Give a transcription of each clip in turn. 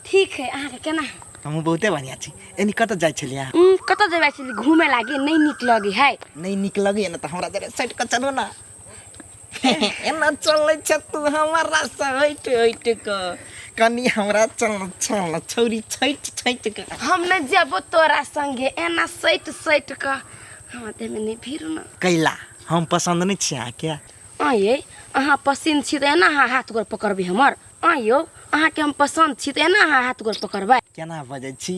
ठीक है अहाँ के केना है हमहूँ बहुते बढ़िया छी एनी कतऽ जाइ छलियै अहाँ उम, कतऽ जेबै छली घूमे लागी नहि नीक लगे है नहि नीक लगैए ने तऽ हमरा जरे सटि कऽ चलू ने एना चलै छ तू हमरा सैट हट क कनी हमरा चल चल छौरी छैट छैट क हम न जेबो तोरा संगे एना सैट सैट क हमरा देह में नहीं भीड़ ना कैला हम पसंद नहीं छी अहाँ के आये अहाँ पसंद छी त एना अहाँ हाथ गोर पकड़बे हमर आयो अहाँ के हम पसंद छी त एना अहाँ हाथ गोर पकड़बे केना बजै छी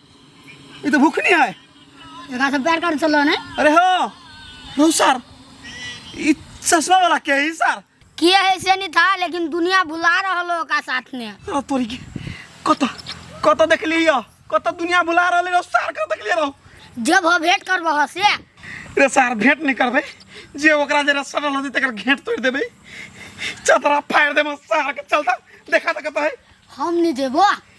ई तऽ भूख नहीं है एकरा से प्यार कर चलो ने अरे हो हो सर ई चश्मा वाला के है सर किए है से नहीं था लेकिन दुनिया भुला रहलो ओका साथ ने अरे तोरी के कत कत देखली हो कत दुनिया बुला रहले हो सर के देखली रहो जब हो भेंट करबह से रे सर भेंट नहीं करबे जे ओकरा जरा सरल होती तकर घेंट तोड़ देबे चतरा फाड़ देबे सर के चलता देखा तक है हम नहीं देबो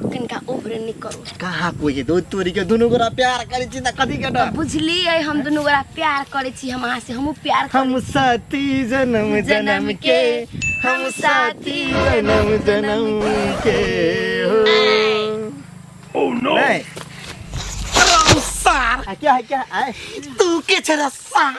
कनिका ओभरे नहीं करू कहाँ कोई के दो तोरी के दोनों गोरा प्यार करे छी त कथी के डर बुझलिए हम दुनू गोरा प्यार करे छी हम अहाँ से हमहूँ प्यार करै हम साथी जन्म जन्म जन्म के के, हम साथी जन्म जन्म के हो ओह नो नहीं आ, क्या है क्या है आए तू के छरा सार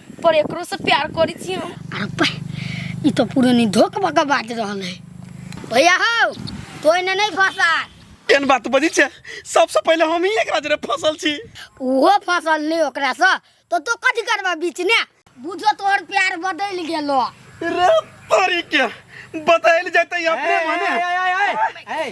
पर एकरो से प्यार करी छी हम अरे पै ई तो पूरे नहीं धोख बका बाज रहल है भैया हो तो इन्हें नहीं फंसा केन बात बजी छे सबसे पहले हम ही एकरा जरे फसल छी वो फसल नहीं ओकरा से तो तो कथी करबा बीच ने बुझो तोहर प्यार बदल गेलो रे तोरी के बताइल जाते अपने माने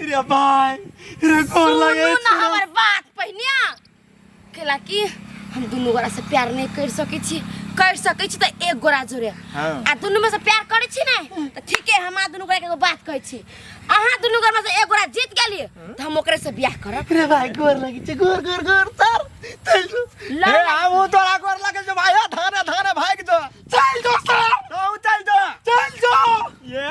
रे भाई रे गोर लगे सुनू ना हमर बात पहिने केला कि हम दुनू गोरा से प्यार नहीं कर सके छी कर सके छी त एक गोरा जोरे हाँ। आ दुनू में से प्यार करे छी ने त ठीके हम आ दुनू गोरा के एगो बात कहै छी अहाँ दुनू गोरा में से एक गोरा जीत गेलिए त हम ओकरे से बियाह करब रे भाई गोर लगे छे गोर गोर गोर सर चल जो लड़ ए हम उ तोरा गोर लगे जो भाई धाने धाने भाग जो चल जो सर तू चल जो चल जो ये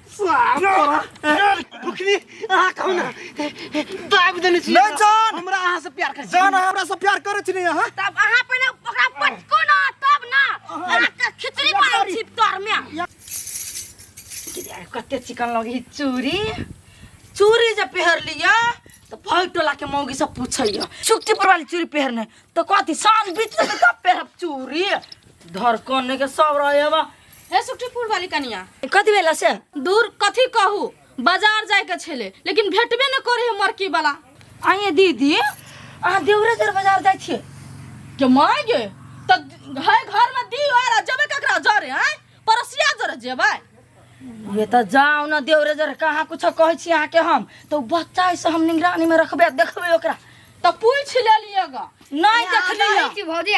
फुकनी अहाँ कहू ना दाबि देने छी नहि जान। हमरा अहाँ से प्यार करै छी जान अहाँ हमरा से प्यार करै छी ने अहाँ तब अहाँ पहिने ओकरा पटको ना तब ना अहाँके खिचड़ी बनाउ छी तरमे कते चिकन लगी चूरी चूरी जे पहर लिया तो भग टोला के मौगी सब पूछैया छुट्टी पर वाली चूरी पहरने तो कथी साँझ बीच में तब पहरब चूरी धड़कन के सब रहे बा हे सुखटीपुर वाली कनिया कथी भेल से दूर कथी कहू बाजार जाए के छेले लेकिन भेटबे न करे है मरकी वाला आइए दीदी अहाँ देवरे देर बाजार जाइ छियै के माय गे त है घर में दी और जबे ककरा जरे हैं परसिया जरे जेबै ये तऽ जाउ ने देवरे देर कहाँ कुछो कहै छी अहाँके हम तऽ ओ बच्चा है से हम निगरानी में रखबै आ देखबै ओकरा त पूछ ले लिएगा नहि देखलियै भौजी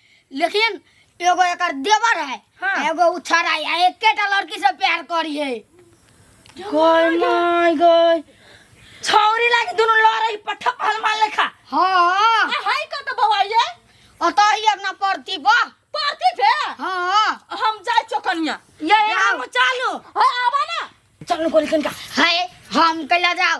लेकिन एगो एकर देवर है हाँ। एगो उछर है आ एकेटा लड़की से प्यार करी है गय माय गय छौरी लागी दुनु लड़ई पठा पहल मार लेखा हाँ हाय का तो बवाई है और तो ही अपना परती बा पार्टी थे हाँ हम जाए चौकनिया ये जाओ। हम चालू हाय आवा ना चल गोली कनका है हम कैला जाओ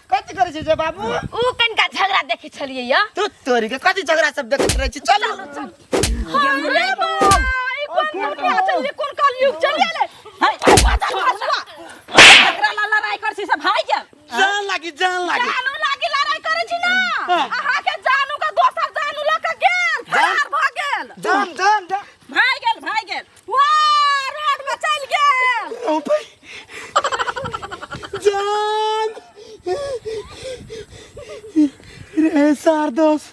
कथी करै छै जे बाबू उ कनका झगड़ा देखै छलियै या तू तोरी के कथी झगड़ा सब देखैत रहै छी चल अरे बाबा ई कोन कोन के चल ये कोन काल युग चल गेले हाय झगड़ा ला लड़ाई कर छी सब भाई के जान लागी जान लागी जानू लागी लड़ाई करे छी ना हाँ। अहा के जानू का दोसर जानू ल के गेल फरार भ गेल जान जान जान भाई गेल भाई गेल वाह रोड में चल गेल ओ भाई जान रे सार दोस्त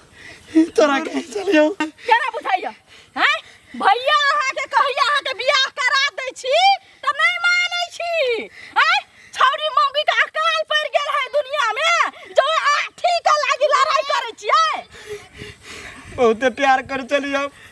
तोरा कहीं चल जाओ केना बुझाइया हैं भैया अहाँ के कहिया अहाँ के बियाह करा दै छी त नहीं मानै छी हैं छौरी मौगी के अकाल पड़ गेल है दुनिया में जो आठी के लागी लड़ाई करै छियै बहुते प्यार कर चली जाओ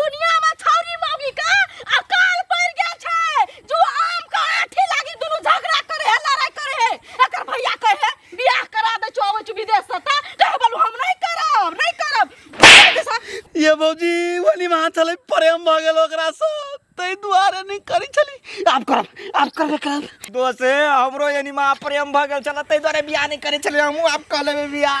दुनिया में छौरी मौगी का अकाल पड़ गया छै जो आम का आठी लागी दुनु झगड़ा करे है लड़ाई करे है एकर भैया कहे है बियाह करा दे छो आवे छु विदेश से ता कहे बोलू हम नहीं करब नहीं करब ये भौजी वाली में हाथ हलै प्रेम भऽ गेल ओकरा से तै दुआरे नहि करै छली आब करब आब करबे करब दोस्त हमरो यानी माँ प्रेम भऽ गेल छल तै दुआरे बियाह नहि करै छलियै हमहूँ आब कऽ लेबै बियाह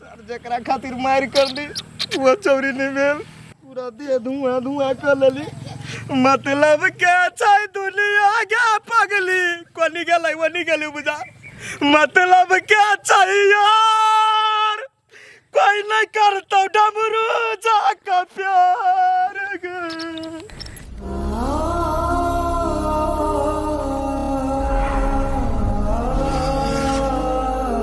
सर जकरा खातिर मारि करली वो चौरी नहीं भेल पूरा देह धुआं धुआं कर लेली मतलब के छै दुनिया के पगली कोनी गेलै ओनी गेली बुझा मतलब के छै यार कोई नहीं करतौ डमरू जा का प्यार गे।